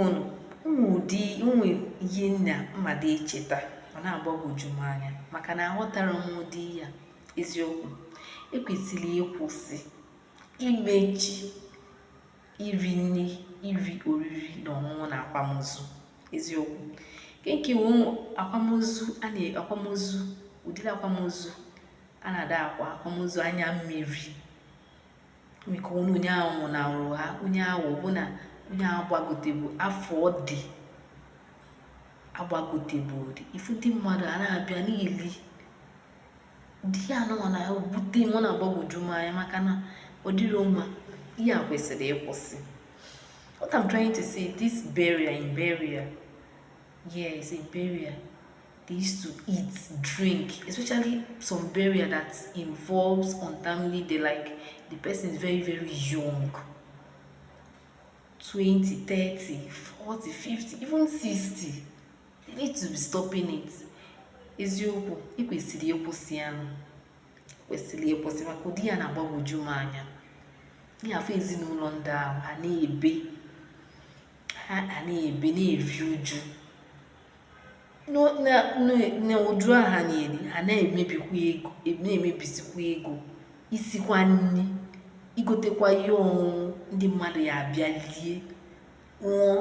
ụnụ ụmụ ụdị ụmụ ihe nna mmadụ echeta ọ na-agbagwoju m anya maka na aghọtara m ụdị ya eziokwu ekwesịrị ịkwụsị imechi iri nri iri oriri na ọṅụṅụ na akwamozu eziokwu nke ka nke akwamozu a na akwamozu ụdịrị akwamozu a na-ada akwa akwamozu anya mmiri maka ọnwụ onye ahụ nwụnarụ ha onye ahụ ọ bụ na onye ahụ agbagotebu afọ ọ dị agbagotebu dị ifu ndị mmadụ a na-abịa na-eli ụdị ya anụnwa na-ewute m ọ na-agbagwoju m anya maka na ọ dịrọ mma ihe e kwesịrị ịkwụsị what i'm trying to say this burial in burial Yes, in burial, they used to eat, drink, especially some burial that involves untimely death, like the person is very, very young. 20, 30, 40, 50, even 60. They need to be stopping it. Eziokwu, e kwesịrị ịkwụsị ya. E kwesịrị ịkwụsị maka ụdị ya na-agbagwoju m anya. Ị ya-afụ ezinụlọ ndị ahụ ha na-ebe ha a na-ebe na-eri uju n'uju ahụ ha na-eri ha na-emebi na-emebisikwa ego isikwa nri igotekwa ihe ọṅụṅụ ndị mmadụ ya abịa lie ṅụọ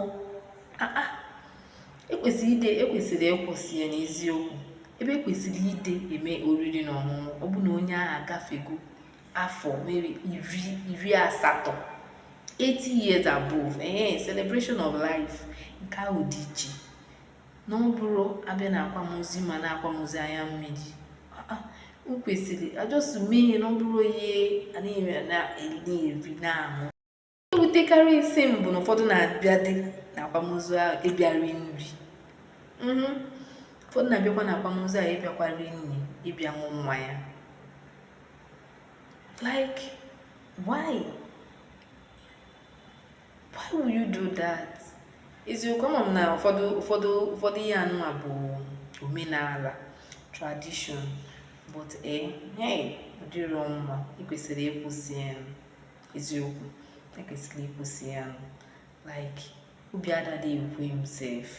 ekwesịrị ịdị ekwesịrị ịkwụsị ya n'eziokwu ebe ekwesịrị ịdị eme oriri na ọṅụṅụ ọ bụ na onye ahụ agafego afọ maybe iri iri asatọ 80 years above ee celebration of life nke ahụ dị iche na ọ bụrụ a bịa na akwamozu mana akwamozu anya mmiri ah, ah, o kwesịrị a just mee na ọ bụrụ ihe a na-eri na-aṅụ na-ewutekarịsị m bụ na ụfọdụ na-abịadị na akwamozu ahụ ịbịa ri nri mhm. ụfọdụ na-abịakwa na akwamozu ahụ ịbịakwa ri nri ịbịa ṅụ mmanya like why why will you do that eziokwu ama m na ụfọdụ ihe anụnwa bụ omenala tradition but eh hey ọ dịrọ mma e kwesịrị ịkwụsị ya eziokwu e kwesịrị ịkwụsị ya like obi adada ekwe m sef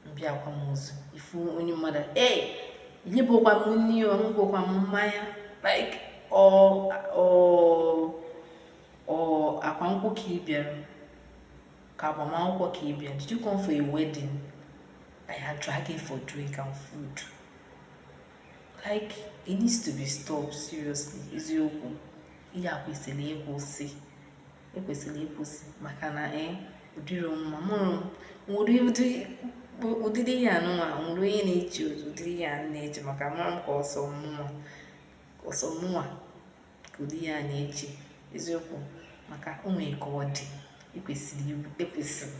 m bịa akwamozu ifu onye mmadụ enyebukwa m nri o aṅụbukwa m mmanya like ọ ọ ọ ịgba nkwụ ka ị bịara ka agbamakwụkwọ ka ị bịara did you come for a wedding that you are dragging for drink and food like it needs to be stopped seriously eziokwu ihe a kwesịrị ịkwụsị e kwesịrị ịkwụsị maka na e ọ dịrọ mma mụrụ nwere ụdị ụdịrị ihe anụnwa nwere onye na-eche ụdịrị ihe a na-eche maka amarọ m ka ọ sọ mụnwa ọ sọ mụnwa ka ụdị ihe a na-eche eziokwu maka o nwere ka ọ dị e kwesịrị e kwesịrị